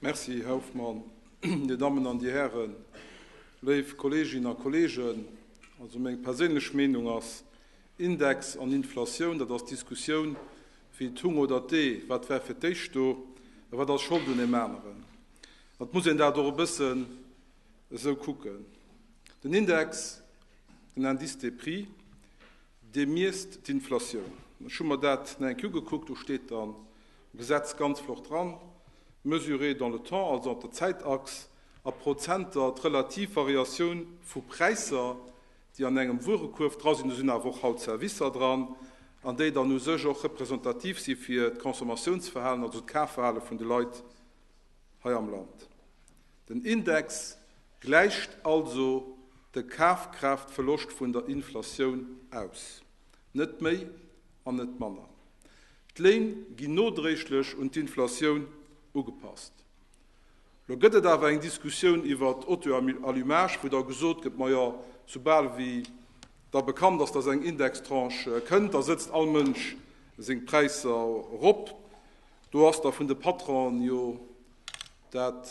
Merci, Här Hoffmann. Dir Dammen an Dir Hären, léif Kolleeginnen a Kolleegen, also meng perséinlech Meenung ass, Index an Inflatioun, dat ass d'Diskussioun wéi d'Hung oder d'Ee, wat war fir d'éischt do a wat ass Schold un deem aneren. An et muss een dat och e bëssen esou kucken. Den Index, den Indice des prix, dee miesst d'Inflatioun. Ech hu mer dat nach eng Kéier ugekuckt, do steet dann Gesetz ganz flott dran, mesuré dans le temps, also op der Zäitachs, a Prozenter. D'relativ Variatioun vu Präisser, déi an engem Wuerekuerf dra sinn, do sinn awer och haut Servicer dran, an déi dann u sech och representativ si fir d'Consommatiounsverhalen, also d'Kafverhale vun de Leit hei am Land. Den Index gläicht also de Kafkraaftverloscht vun der Inflatioun aus. Net méi an net manner. D'Léin ginn nodréiglech un d'Inflatioun ugepasst. Lo gëtt et awer eng Diskussioun iwwert d'Auto-allumage, wou da gesot gëtt, majo, soubal wéi da bekannt ass, datt eng Indextranche kënnt, da sëtzt all Mënsch seng Präisser erop. Do ass da vun de Patronen jo dat,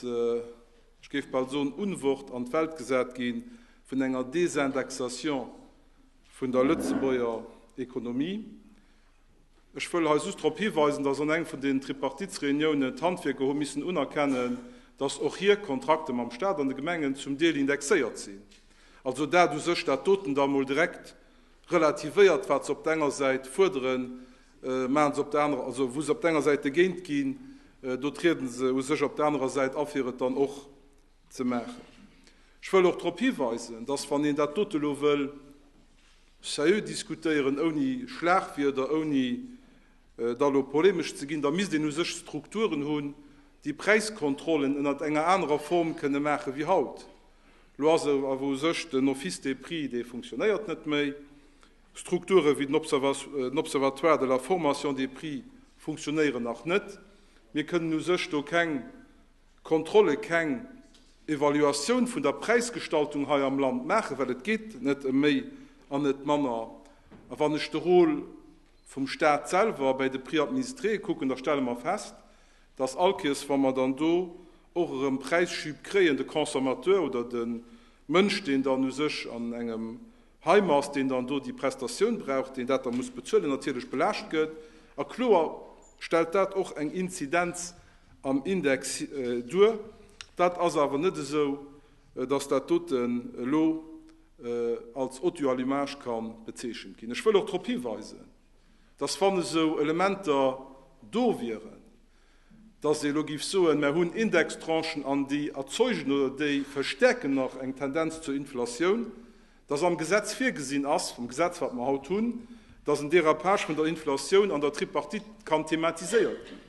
ech géif bal soen, Unwort an d'Welt gesat gi vun enger Desindexation vun der Lëtzebuerger Ekonomie. Ech wëll hei just drop hiweisen, dass an engem vun den Tripartitsreuniounen d'Handwierker hu missen unerkennen, dass och hir Kontrakte mam Stat an de Gemengen zum Deel indexéiert sinn. Also dat u sech, dat doten da emol direkt relativéiert, wat se op der enger Säit fuerderen, maachen se op der anerer, also wou se op der enger Säit dogéint ginn, do triede se u sech op der anerer Säit a fir et dann och Ze maachen. Ech wëll och drop hiweisen, dass, wann een dat dote elo wëll sérieux diskutéieren, ouni Schlagwierder, ouni da elo polemesch ze ginn, da misst een u sech Strukturen hunn, déi Präiskontrollen ënnert enger anerer Form kënne maachen, wéi haut elo ass. Awer u sech den Office des prix, dee funktionéiert net méi. Strukture wéi den Observatoire de la formation des prix funktionéieren nach net. Mir kënnen u sech do keng Kontrolle keng Evaluatioun vun der Präisgestaltung hei am Land maachen, well et geet net ëm méi an net manner. A wann ech de Rôle vum Stat selwer bei de Prix administréë kucken, da stelle mer fest, dass all Kéiers, wa mer dann do och erëm Präisschüb kréien, de Consommateur oder de Mënsch, deen dann u sech an engem Heimer ass deen dann do déi Prestatioun brauch, deen dat da muss bezuelen, natierlech belaascht gëtt. A kloer stellt dat och eng Inzidenz am Index duer. Dat ass awer net esou, datt dat doten elo als audio allumage ka bezeechent ginn. Ech wëll och drop hiweisen, datt wann esou Elementer do wieren, dass ee elo géif soen, Mer hunn Indextranchen an déi erzeugen oder déi verstärken nach eng Tendenz zur Inflatioun, dass am Gesetz virgesinn ass, vum Gesetz, wat mer haut hunn, dass en Dérapage vun der Inflatioun an der Tripartite kann thematiséiert ginn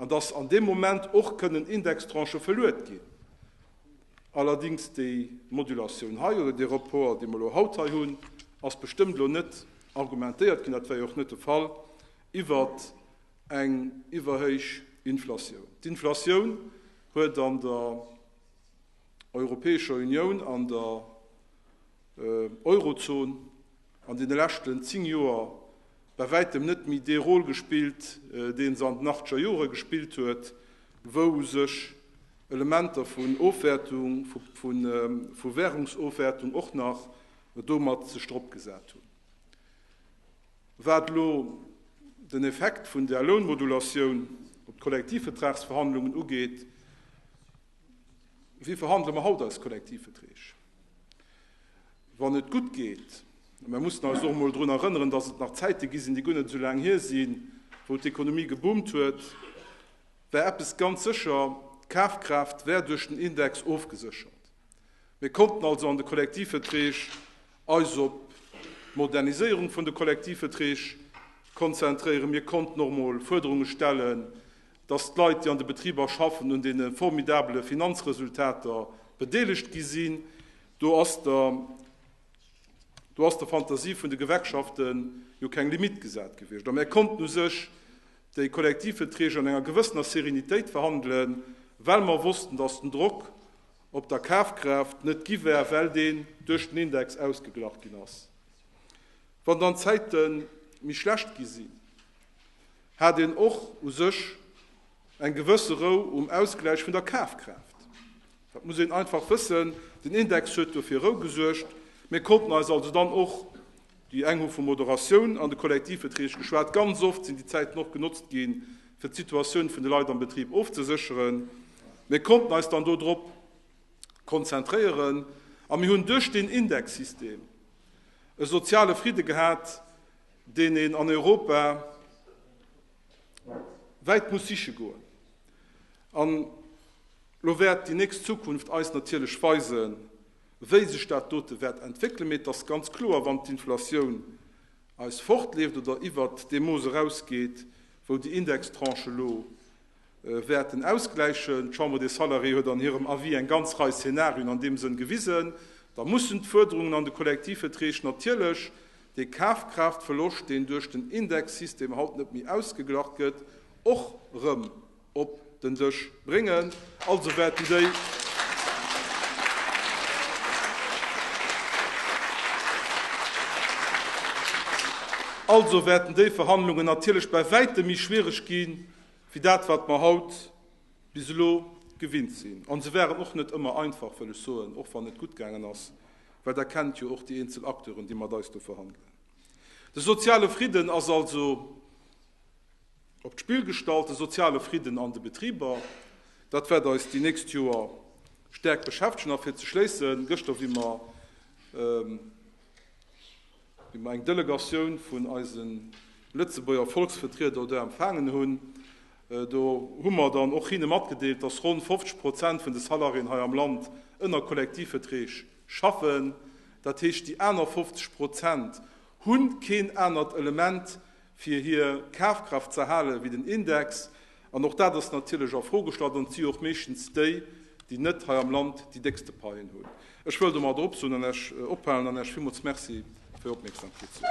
an dass an deem Moment och kënnen Indextranchë verluet ginn. Allerdings déi Modulatioun hei oder dee Report, dee mer elo haut hei hunn, ass bestëmmt elo net argumentéiert ginn, dat war jo och net de Fall, iwwert Eng iwwerhéich Inflatioun. D'Inflatioun huet an der Europäescher Unioun, an der Eurozon an deene leschten zéng Joer bäi wäitem net méi dee Rôle gespillt, dee se an den achteger Jore gespillt huet, wou sech Elementer vun Ofwäertung, vu Währungsofwäertung och nach domat sech drop gesat hunn. Wat elo den Effekt vun der Lounmodulatioun op d'Kollektivvetragsverhandlungen ugeet, Wéi verhandele mer haut eis Kollektivveträg? Wann et gutt geet, a mir mussen eis och emol drun erënneren, datt et nach Zäite gi sinn, déi guer net esou laang hier sinn, wou d'Ekonomie geboomt huet, war eppes ganz sécher, D'Kafkraaft war duerch den Index ofgeséchert. Mir konnten also an de Kollektivveträg eis op d'Moderniséierung vun de Kollektivverträg konzentréieren. Mir konnten och emol Fuerderunge stellen, dass d'Leit, déi an de Betriber schaffen, un deene formidabele Finanzresultater bedeelegt gi sinn. Do ass der, do ass der Fantasie vun de Gewerkschaften jo keng Limitt gesat gewiescht. A mir konnten u sech déi Kollektivverträg an enger gewëssener Serenitéit verhandelen, well mer wossten, dass den Drock op der Kafkraaft net gi war, well deen duerch den Index ausgeglach ginn ass. Wann dann d'Zäite méi schlecht gi sinn, hat een och u sech eng gewësse Rou um Ausgläich vun der Kafkraaft. Dat muss een einfach wëssen. Den Index huet dofir Rou gesuergt. Mir konnten eis also dann och Déi eng hu vu Moderatioun an de Kollektivbetrieg geschwat. Ganz oft sinn déi Zäiten och genotzt gi fir d'Situatioun vun de Leit am Betrib ofzesécheren. Mir konnten eis dann dodrop konzentréieren a mir hunn duerch deen Indexsystem e soziale Fridde gehat, deen een an Europa wäit muss siche goen. An elo wäert déi nächst Zukunft eis natierlech weisen, Wéi sech dat dote wäert entwéckelen, mee et ass ganz kloer, wann d'Inflatioun eis fortleeft oder iwwert dee Mooss erausgeet, wou déi Indextranche elo wäerten ausgläichen, d'Chambre des Salariés huet an hirem Avis eng ganz Rei Szenarien an deem Sënn gewisen, da mussen d'Fuerderungen an de Kollektivveträg natierlech dee Kafkraaftverloscht, deen duerch den Indexsystem haut net méi ausgeglacht gëtt, och erëm. op den Dësch bréngen. Also wäerten déi Also wäerten déi Verhandlungen natierlech bäi wäitem méi schwiereg ginn, wéi dat wat mer haut bis elo gewinnt sinn. An se waren och net ëmmer einfach, wëll ech soen, och wann et gutt gaangen ass, well Der kennt jo och déi eenzel Acteuren, déi mat eis do verhandelen. De soziale Fridden ass also. Op d'Spill gestallt, de soziale Fridden an de Betriber, dat wäert eis déi nächst Joer staark beschäftegen. A fir ze schléissen, gëschter hu mer eng Delegatioun vun eise Lëtzebuerger Volksvertrieder do empfaangen. Hunn do hu mer dann och hinne matgedeelt, dass ronn 50 Prozent vun de Salariéen hei am Land ënner Kollektivverträg schaffen. Dat heescht, déi aner 50 Prozent hu keen anert Element fir hir Kafkraaft ze erhalen, wéi den Index, an och dat ass natierlech a Fro gestallt, an et si jo och meeschtens déi, déi net hei am Land déi déckste Paien hunn. Ech wëll domat eropsoen an Iech ophalen an Iech villmools Merci fir Ier Opmierksamkeet soen.